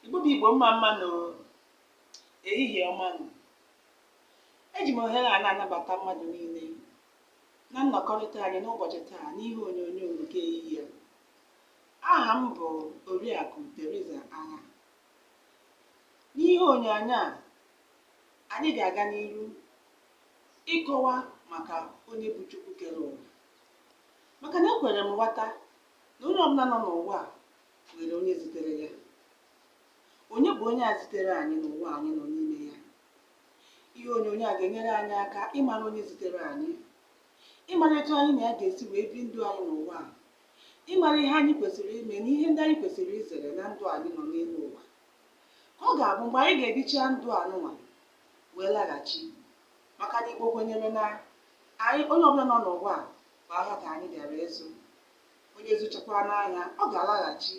Igbo bụ Igbo mma mma nụ, ehihie ọma nụ. Eji m ohere a na-anabata mmadụ niile na nnọkọrịta anyị n'ụbọchị taa n'ihe onyonyo nke ehihie. Aha m bụ Oriakụ Theresa Agha. N'ihe onyonyo a, anyị ga-aga n'ihu ịkọwa maka onye bụ Chukwu kere ụwa. maka na ekwere m ghọta na onye ọbụla nọ n'ụwa a nwere onye zitere ya onye bụ onye a zitere anyị n'ụwa anyị nọ n'ime ya ihe onyonyo a ga-enyere anyị aka ịmara onye zitere anyị ịmara etu anyị na ya ga-esi wee bi ndụ anyị n'ụwa a ịmara ihe anyị kwesịrị ime na ihe ndị anyị kwesịrị izere na ndụ anyị nọ n'elu ụwa ka ọ ga-abụ mgbe anyị ga-ebicha ndụ anụnwa wee laghachi maka na Igbo kwenyere na anyị onye ọbụla nọ n'ụwa a bụ ahịa ka anyị bịara ịzụ onye zụchakwaa n'ahịa ọ ga-alaghachi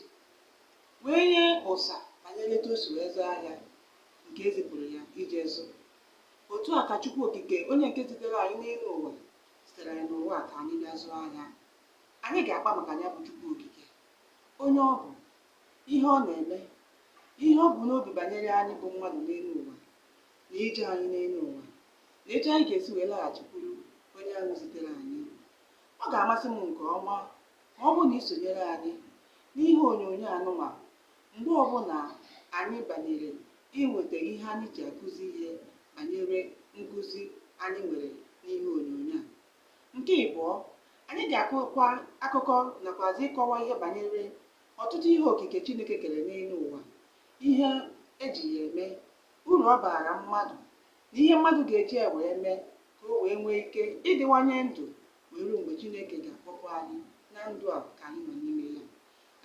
wee nye ụsa banyere etu o si wee zụọ ahịa nke ezipụrụ ya ije zụ otu a ka Chukwu Okike onye nke zitere anyị n'elu ụwa zitere anyị n'ụwa a ka anyị bịa zụọ ahịa anyị ga-akpa maka ya bụ Chukwu Okike onye ọ bụ ihe ọ na-eme ihe o bu n'obi banyere anyị bụ mmadụ n'elu ụwa na ije anyị n'elu ụwa na etu anyị ga-esi wee laghachikwuru onye ahụ zitere anyị ọ ga-amasị m nke ọma ma ọ bụ na ị sonyere anyị n'ihe onyonyo anụnwa mgbe ọbụla anyị banyere inweta ihe anyị ji akụzi ihe banyere nkụzi anyị nwere n'ihe onyonyo a nke ịbụọ anyị ga-akọkwa akụkọ nakwazi ịkọwa ihe banyere ọtụtụ ihe okike Chineke kere n'elu ụwa, ihe eji ya eme, uru ọ baara mmadụ, na ihe mmadụ ga-eji ya wee mee ka o wee nwee ike ịdịwanye ndụ wee ruo mgbe Chineke ga-akpọpụ anyị na ndụ a ka anyị nọ n'ime ya.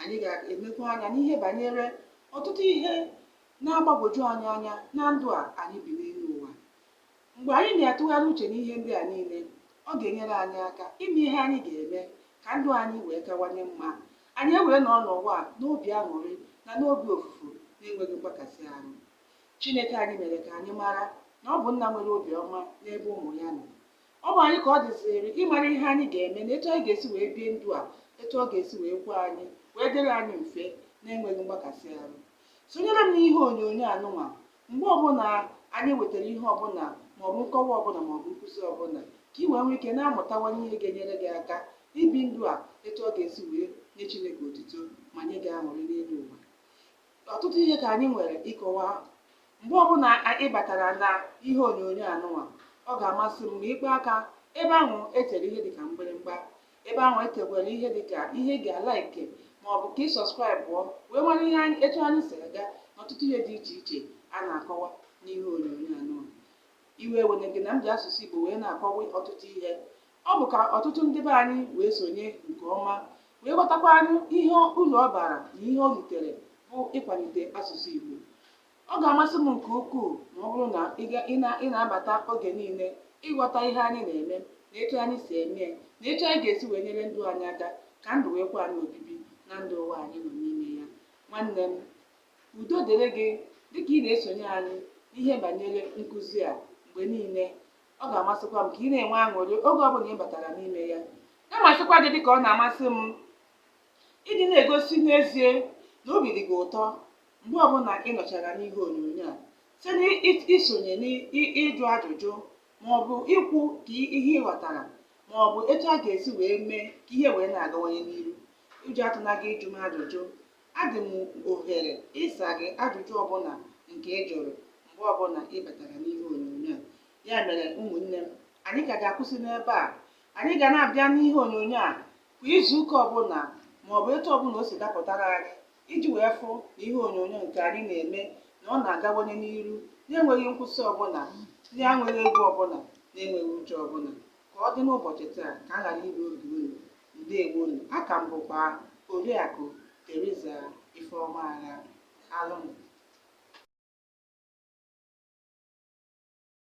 Anyị ga-enekwa anya n'ihe banyere ọtụtụ ihe na-agbagwoju anyị anya na ndụ a anyị bi n'elu ụwa. Mgbe anyị na-atụgharị uche n'ihe ndị a niile, ọ ga-enyere anyị aka ime ihe anyị ga-eme ka ndụ anyị wee kawanye mma, anyị ewee nọ n'ụwa a n'obi aṅụrị na n'obi ofufu na-enweghị mgbakasị ahụ. Chineke anyị mere ka anyị mara na ọ bụ nna nwere obiọma n'ebe ụmụ ya nọ. Ọ bụ anyị ka ọ dịzịrị ịmara ihe anyị ga-eme na etu anyị ga-esi wee bie ndụ a etu ọ ga-esi wee kwe anyị wee dịrị anyị mfe na-enweghị mgbakasị ahụ. Sonyere m n'ihe onyonyo anụnwa Mgbe ọbụla anyị wetara ihe ọbụla maọbụ nkọwa ọbụla maọbụ nkụzi ọbụla, ka i wee nwee ike na-amụtawanye ihe ga-enyere gị aka ibi ndụ a etu ọ ga-esi wee nye Chineke otuto ma nye gị aṅụrị n'elu ụwa. Ọtụtụ ihe ka anyị nwere ịkọwa. Mgbe ọbụla ị batara na ihe onyonyo anụnwa, ọ ga-amasị m ma ị kpọ aka ebe ahụ e tere ihe dịka mgbịrịmgba ebe ahụ e dekwara ihe dịka ihe ị ga-alaike ma ọ bụ ka ị sọskraịbụọ wee mara ihe anyị etu anyị si aga n'ọtụtụ ihe dị iche iche a na-akọwa n'ihe onyonyo a nụ iwe ewene gị na m ji asụsụ Igbo wee na-akọwa ọtụtụ ihe ọ bụ ka ọtụtụ ndị be anyị wee sonye nke ọma wee ghọtakwanụ ihe uru ọ bara na ihe o ritere bụ ịkwalite asụsụ Igbo Ọ ga-amasị m nke ukwuu ma ọ bụrụ na ị ga- ị na- ị na-abata oge niile ịghọta ihe anyị na-eme na etu anyị si eme ya na etu anyị ga-esi wee nyere ndụ anyị aka ka ndụ wee kwe anyị obibi na ndụ ụwa anyị nọ n'ime ya. Nwanne m, udo dịrị gị dịka ị na-esonye anyị n'ihe banyere nkụzi a mgbe niile. Ọ ga-amasịkwa m ka ị na-enwe aṅụrị oge ọbụla ị batara n'ime ya. Na-amasịkwa gị dịka ọ na-amasị m ịdị na-egosi n'ezie na obi dị gị ụtọ mgbe ọbụla ị nọchara n'ihe onyonyo a site n'isonye n'ịjụ ajụjụ ma ọ bụ ikwu ka ihe ị ghọtara ma ọ bụ etu a ga-esi wee mee ka ihe wee na-agawanye n'iru ụjọ atụna gị ịjụ m ajụjụ adị m ohere ịsa gị ajụjụ ọbụla nke ị jụrụ mgbe ọbụla ị batara n'ihe onyonyo a ya mere ụmụnne m anyị ka ga-akwụsị n'ebe a anyị ga na-abịa n'ihe onyonyo a kwa izu ụka ọbụla ma ọ bụ etu ọbụla o si dapụtara anyị iji wee fụ na ihe onyonyo nke anyị na-eme na ọ na-agawanye n'iru na-enweghị nkwụsị ọbụla na-enweghị egwu ọbụla na-enweghị ụjọ ọbụla ka ọ dị n'ụbọchị taa ka a ghara iri oge unu ndeewonu a ka m bụkwa oriakụ Teresa Ifeoma Agha Alụm